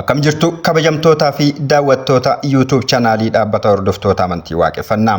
Akkam jirtu kabajamtootaa fi daawwattoota YouTube chaanaalii dhaabbata hordoftoota amantii waaqeffannaa.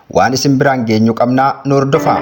Waan isin biraan geenyu qabnaa nu hordofaa.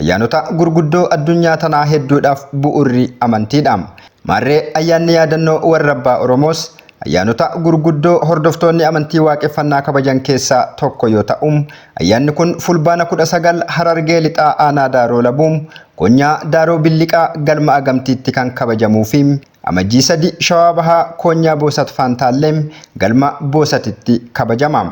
Ayyaanota gurguddoo addunyaa tanaa hedduudhaaf bu'urri amantiidha. Maarree ayyaanni yaadannoo warra abbaa Oromoos ayyaanota gurguddoo hordoftoonni amantii waaqeffannaa kabajan keessaa tokko yoo ta'u, ayyaanni kun Fulbaana 19 Harargee Lixaa Aanaa Daaroo Labuu, Konyaa Daaroo Billiqaa Galma Agamtiitti kan kabajamuu fi Amajjii 3 Shawaa Bahaa Koonyaa Boosat Faantaalleem galma Boosatitti kabajama.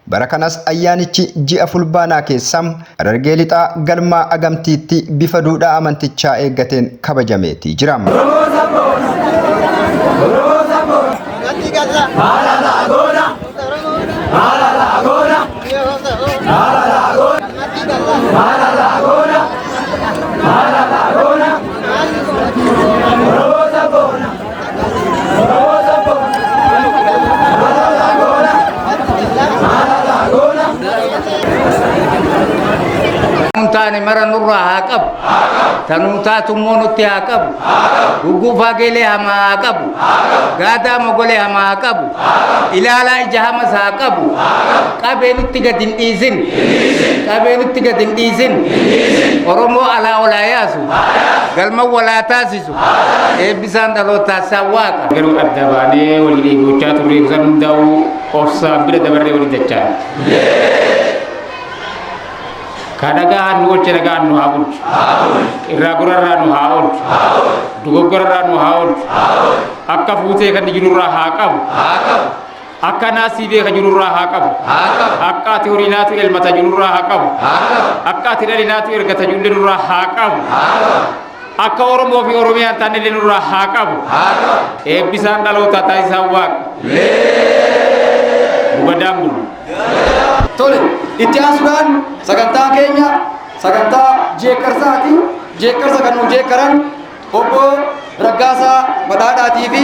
Bara kanas ayyaanichi ji'a Fulbaanaa keessa Harargee Lixaa galmaa Agamtiitti bifa duudhaa amantichaa eeggateen kabajameetii jira. taane mara nurraa haa qabu tanuu taatu immoo nutti haa qabu gugguufaa geelee hamaa haa qabu gaadaa mogolee hamaa haa qabu ilaalaa ija hamas haa qabu qabee nutti gad hin dhiisin qabee nutti gad hin dhiisin oromoo alaa olaa yaasu galma walaa taasisu Eebbisaan dhalootaa isaa waaqa. Garuu adda baanee walii dheeboochaa turree kutan hundaa'uu obsaan bira dabarree walii dachaan. Ka nagaan nu oolche nagaan nu haa bulchu. Irraa gorarraa nu haa oolchu. Dogoggorarraa nu haa oolchu. Akka fuutee kan jirurraa haa qabu. Akka naasii beeka jirurraa haa qabu. Akka ati horii naatu elmata jirurraa haa qabu. Akka ati dhali naatu ergata jirullee nurraa haa qabu. Akka Oromoo fi Oromiyaan taanillee nurraa haa qabu. Eebbisaan dhalootaa taasisaan waaqa. Gugadaan bulu. Tole, itti aansuudhaan sagantaa keenya sagantaa jeekkarsaati. Jeekkarsa kan nu jeekkaran obbo Raggaasaa Badhaadhaatii fi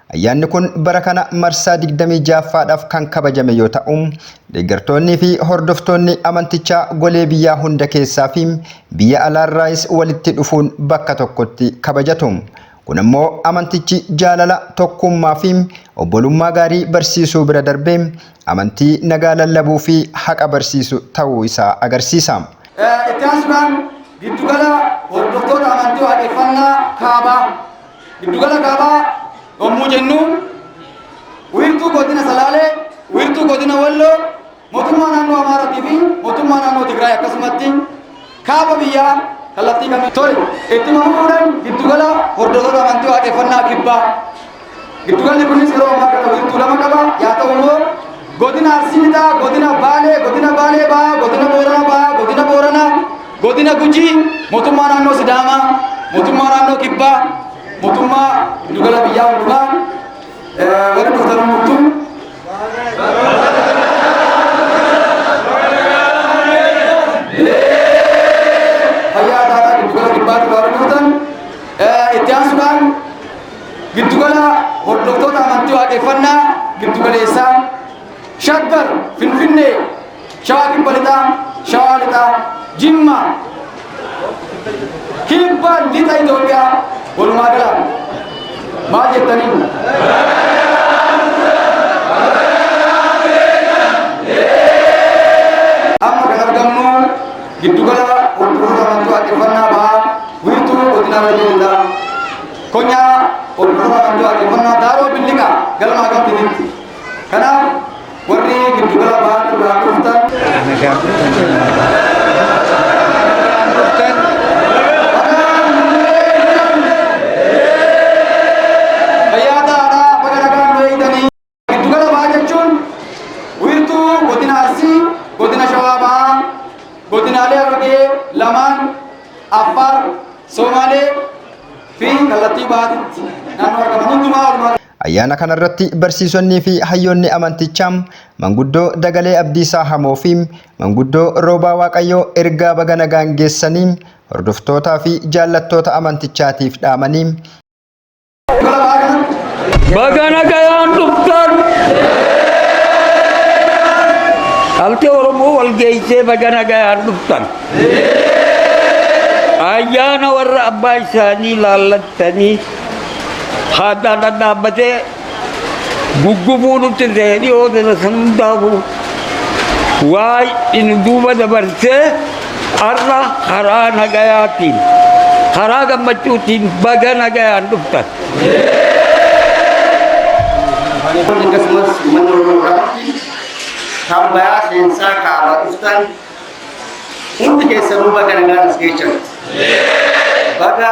Ayyaanni kun bara kana marsaa 26ffaadhaaf kan kabajame yoo ta'u, deeggartoonnii fi hordoftoonni amantichaa golee biyyaa hunda keessaa fi biyya alaarraayis walitti dhufuun bakka tokkotti kabajatu. Kun ammoo amantichi jaalala, tokkuummaa fi obbolummaa gaarii barsiisuu bira darbee amantii nagaa lallabuu fi haqa barsiisu ta'uu isaa agarsiisa. Itti aansuudhaan Giddugala Hordoftoota Amantii Waaqeffannaa Kaabaa. Giddugala Kaabaa yommuu jennu wiirtuu godina Salaalee, wiirtuu godina Walloo, mootummaa naannoo Amaaraatii fi mootummaa naannoo Tigraay akkasumatti kaaba biyyaa kallattii kamiin Tole, ittuma fufuudhaan giddugala hordoftoota amantii waaqeffannaa kibbaa. Giddugalli kunis yeroo ammaa kana wiirtuu lama qaba. Yaa ta'u immoo godina Arsii Lixaa, godina Baalee, godina Baalee Bahaa, godina Booranaa Bahaa, godina Booranaa Godina Gujii, Mootummaa Naannoo Sidaamaa, Mootummaa Naannoo Kibbaa, Mootummaa Giddugala Biyyaa Hundumaa, warri dhuftan hundumtuu. Fayyaa taataa giddugala kibbaatti warri dhuftan. Itti aansuudhaan giddugala hordoftoota amantii waaqeffannaa giddugaleessaa Shaggar Finfinnee Shawaa Kibba Lixaa, Shawaa Lixaa, Jimma, Kibba Lixa Itoophiyaa walumaa galaan maal jettanii? Amma kan argamnu giddugala hordoftoota amantii waaqeffannaa bahaa wiirtuu godina Wallagga konyaa hordoftoota amantii waaqeffannaa daaroo billiqa galma agarsiisitti. Kanaaf Warri giddugala bahaa irraa dhuftan. Nagaan dhuftan jennaan. Nagaan dhuftan. Fayyaa ta'aadhaa baga nagaan nu eegdanii. Giddugala bahaa jechuun wiirtuu godina Arsii, godina Shawaa Bahaa, godinaalee Harargee lamaan Affaar, Somaalee fi kallattii bahaatti naannoo argaman hundumaa walumaa Ayyaana kanarratti barsiisonniifi hayyoonni amantichaa Manguddoo Dagalee Abdiisaa Hamoofi Manguddoo Roobaa Waaqayyoo ergaa baga nagaan geessanii hordoftootaafi jaallattoota amantichaatiif dhaamanii, Baga nagayaan dhuftan! Dhaltee Oromoo wal geessee baga nagayaan dhuftan! Ayyaana warra abbaa isaanii laallattanii Haadhaan dhadhaabbatee guggubuu nutti hin ta'e dhiyoo ta'e kan hundaafuu waa'ee inni duuba dabarsee har'a karaa nagayaatiin karaa gammachuutiin baga nagayaan dhuftan. akkasumas uummanni Oromoo irratti kan bayaa seensaa kaabaa dhuftan hundi keessanuu baga nagaan as geessan. Baga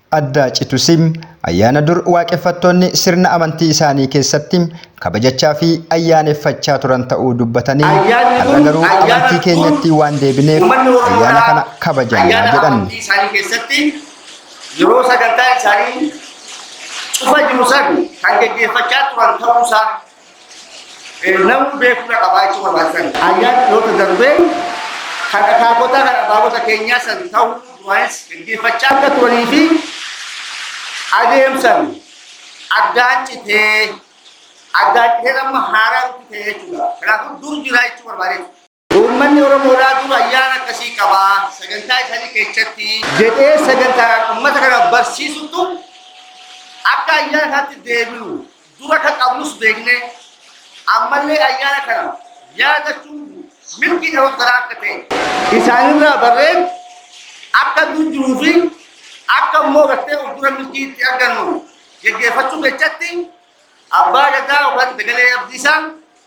addaa citusi ayyaana dur waaqeffattoonni sirna amantii isaanii keessatti kabajachaa fi ayyaaneffachaa turan ta'uu dubbatanii Ayyaanni har'a kun garuu ayyaana amantii dur keenyatti waan deebineef uummanni Oromoo ayyaana irraa kana kabajana ayyaana jedhan. amantii isaanii keessatti yeroo sagantaa isaanii cufa jiru san kan geggeeffachaa turan ta'uusaa Namuu beekumsa qabaachuu barbaachisan ayyaana dhaloota darbee kan akaakota kan abaabota keenyaa san ta'uu duraanis dhaggeeffachaa akka turanii fi adeemsan addaan citee addaan citee amma haaraa ta'e jechuudha. Kanaafuu dur jiraa jechuu barbaadeetu. Uummanni Oromoodhaa dur ayyaana akkasii qaba. Sagantaa isaanii keessatti. jedhee sagantaadhaan uummata kana barsiisutu akka ayyaana isaatti deebinu dura akka qabnus beeknee ammallee ayyaana kana yaadachuun mirgi dhaloota kanaa akka ta'e isaanirraa barreen akka dur jiruu fi akka immoo gartee fuuldura milkii itti argannu geggeeffachuu keessatti abbaa gadaa yookaan dagalee abdiisaan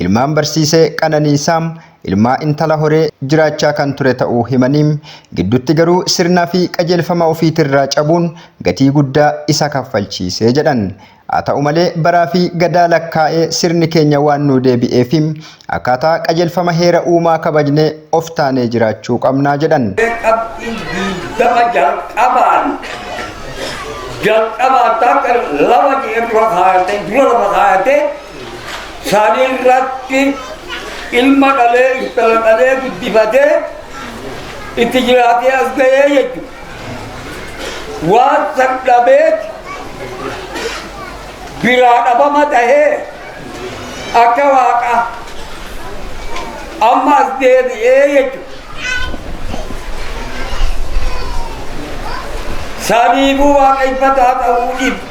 Ilmaan barsiisee Qananiisaa, ilmaa intala horee jiraachaa kan ture ta'uu himanii, gidduutti garuu sirnaa fi qajeelfama ofiitirraa cabuun gatii guddaa isa kaffalchiise jedhan. Haa ta'u malee baraa fi Gadaa lakkaa'ee sirni keenya waan nuu deebi'ee fi akkaataa qajeelfama heera uumaa kabajnee of taanee jiraachuu qabna jedhan. qabxii 20 jalqabaan jalqabaan taakka lama jedhee dura kaayatee dura lama kaayatee San irratti ilma dhalee intala dhalee guddifatee itti jiraatee as ga'ee jechuudha. Waan san dhabeeti biraa dhabama tahee akka waaqa amma as deebi'ee jechuudha. Saniifuu waaqeffataa ta'uu dhibu.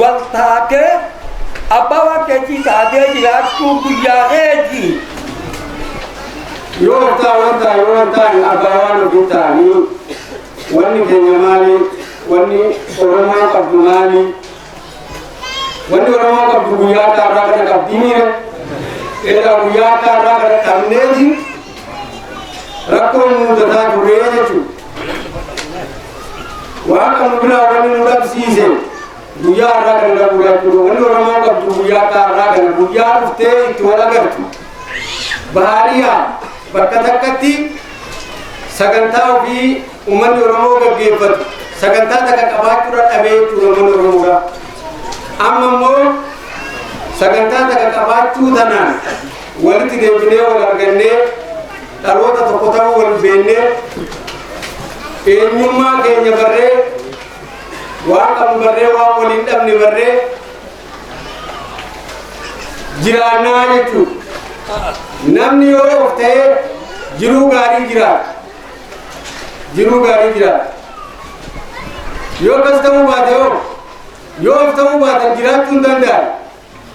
wal taatee abbaa waaqeetii taatee jiraachuu guyyaa eegi. Yoo wantaa wantaa yoo wantaan abbaa waan ofii ta'anii wanni keenya maali wanni Oromoo qabdu maali wanni Oromoo qabdu guyyaa taarraa kana qabdii miire egaa guyyaa taarraa kana qabneeti rakkoon muudataa turee jechuudha. waan kan biraa wani nu dhabsiise guyyaa har'aa kan qabu jechuudha wani oromoo qabdu guyyaa akka har'aa kana guyyaa dhuftee itti wal agartu baariyaa bakka takkatti sagantaa ofii uummanni oromoo gaggeeffatu sagantaa takka qabaachuudha dhabee jechuudha uummanni oromoodha amma immoo sagantaa takka qabaachuu tanaan walitti deebinee wal argannee dhaloota tokko ta'uu wal beennee eenyummaa keenya barree waan qabnu barree waan waliin dhabne barree jiraannaa jechuudha. Namni yoo of ta'e jiruu gaarii jiraata. Jiruu gaarii jiraata. Yoo akkas ta'uu baate yoo yoo of ta'uu baatan jiraachuu hin danda'an.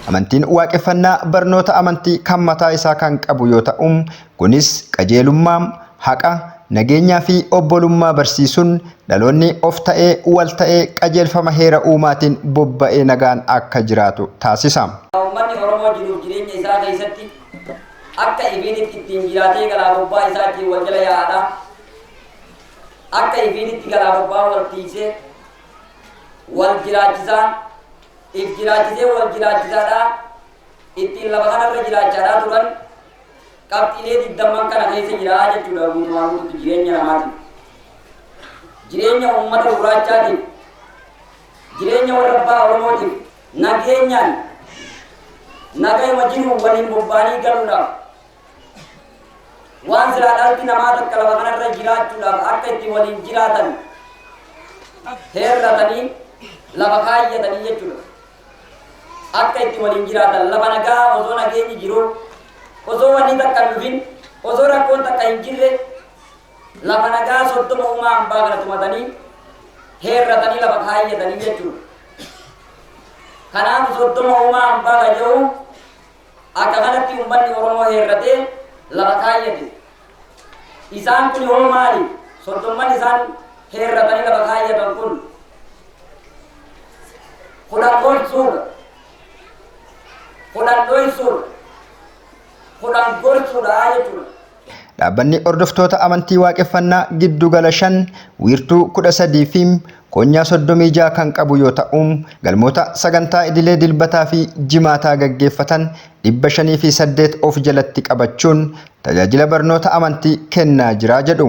Amantiin Waaqeffannaa barnoota amantii kan mataa isaa kan qabu yoo ta'u, kunis qajeelummaa, haqa, nageenyaa fi obbolummaa barsiisuun dhaloonni of ta'ee, wal ta'ee, qajeelfama heera uumaatiin bobba'ee nagaan akka jiraatu taasisa. Uummanni Oromoo jiruuf jireenya isaa keessatti akka ifiinitti ittiin jiraatee galaa bobbaa isaa ittiin wal jala yaa'adha. Akka ifiinitti galaa bobbaa wal tiiksee, wal jiraachisaa, if jiraachisee wal jiraachisaadhaa ittiin lafa kanarra jiraachaadhaa turan qabxiilee digdamman kana keessa jira jechuudha guutumaan guututti jireenya namaatiin. Jireenya uummata gurraachaatiin jireenya warra abbaa Oromootiin nageenyaan nagayuma jiruun waliin bobba'anii galuudhaaf Waan silaa dhalti namaa takka lafa kanarra jiraachuudhaaf akka itti waliin jiraatan heerratanii lafa kaayyatanii jechuudha. Akka itti waliin jiraatan lafa nagaa osoo nageenyi jiru osoo wanni takka hin dhufin osoo rakkoon takka hin jirre lafa nagaa soddoma uumaa hambaa kana tumatanii heerratanii lafa kaayyatanii jechuudha. Kanaaf soddoma uumaa hambaa kan jedhu Akka kanatti ummanni Oromoo heerratee lafa kaayyate. Isaan kuni hoo maali? Soddomman isaan heerratanii lafa kaayyatan kun kudhan gorsuudha, kudhan dhoysuudha, kudhan gorsuudha jechuudha. Dhaabbanni Hordoftoota Amantii Waaqeffannaa giddu gala 5, wiirtuu 13 fi koonyaa 36 kan qabu yoo ta'u, galmoota sagantaa idilee Dilbataa fi Jimaataa gaggeeffatan 508 of jalatti qabachuun tajaajila barnoota amantii kennaa jira jedhu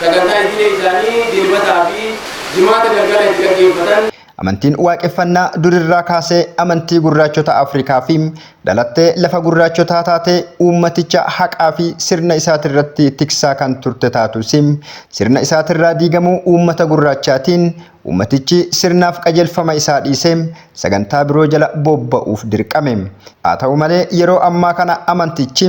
Sagantaa idilee isaanii Dilbataa fi Jimaata galgala itti gaggeeffatan. Amantiin Waaqeffannaa durirraa kaasee amantii gurraachota Afrikaa fi dhalattee lafa gurraachotaa taatee uummaticha haqaa fi sirna isaatirratti tiksaa kan turte taatus sirna isaatirraa diigamuu uummata gurraachaatiin uummatichi sirnaaf qajeelfama isaa dhiisee sagantaa biroo jala bobba'uuf dirqame. Haa ta'u malee yeroo ammaa kana amantichi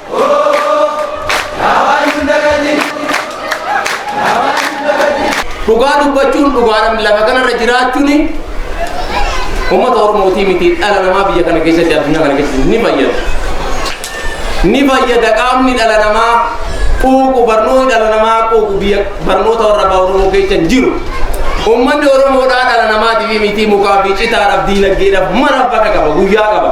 Dhugaa dubbachuun dhugaadhaan lafa kanarra jiraachuun uummata Oromootii miti dhala namaa biyya kana keessatti addunyaa kana keessatti ni fayyada. Ni fayyada qaamni dhala namaa quuqu barnoonni dhala namaa quuqu biyya barnoota warra abbaa Oromoo keessa hin jiru. Uummanni Oromoodhaa dhala namaatiif miti mukaa fi citaadhaaf diinagdeedhaaf maraaf bakka qaba guyyaa qaba.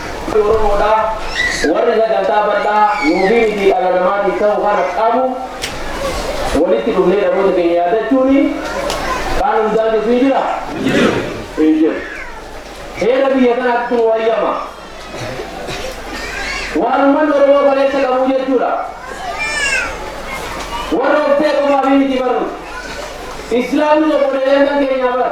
Warri Oromoodha, warri sagantaa bal'aa nuufi miti dhala namaatiif ta'u kana qabu walitti dhufnee dhaloota keenya yaadachuun kaan hundaan jirtu hin jiraa? Hin jiru. Heera biyya kanaattu nu hayyama. Waan ummanni Oromoo kaleessa qabu jechuudha. Warra of ta'e qofaafii miti bar nuti. Islaamnis obboleeyyantan keenyaa bar.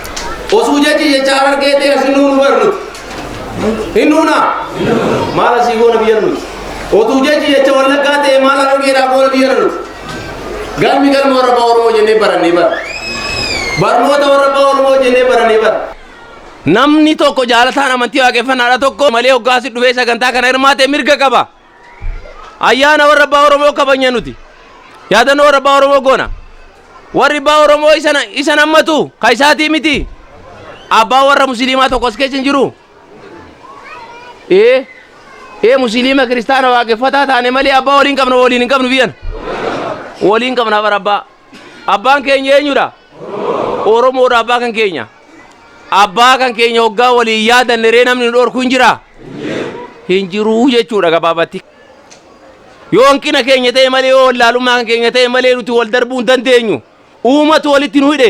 Osuu jechi jecha harargee ta'e asin nuun hubar nuti. Hin nuuna? Maal asii goona biyya nuti? Otuu jechi jecha wallaggaa ta'e maal harargeedhaa goona biyya nuti? Galmi galma warra abbaa Oromoo jennee barannee bara. Barnoota warra abbaa Oromoo jennee barannee bara. Namni tokko jaalataan amantii waaqeffannaadha tokko malee hoggaasi dhufee sagantaa kana hirmaate mirga qaba. Ayyaana warra abbaa Oromoo kabajna nuti. Yaadannoo warra abbaa Oromoo goona. Warri abbaa Oromoo isan isan hammatu ka isaatii miti. Abbaa warra musliimaa tokko as keessa hin jiru. Ee ee musliima kiristaana waaqeffataa taane malee abbaa waliin qabna waliin hin qabnu biyyan. Waliin qabna bara abbaa. Abbaan keenya eenyudha? Oromoodha abbaa kan keenya. Abbaa kan keenya hoggaa waliin yaadanne ree namni nu dhorku hin jiraa? Hin jiruu jechuudha gabaabatti. Yoo hanqina keenya ta'e malee yoo wallaalummaa kan keenya ta'e malee nuti wal darbuu hin dandeenyu. Uumatu walitti nu hidhe.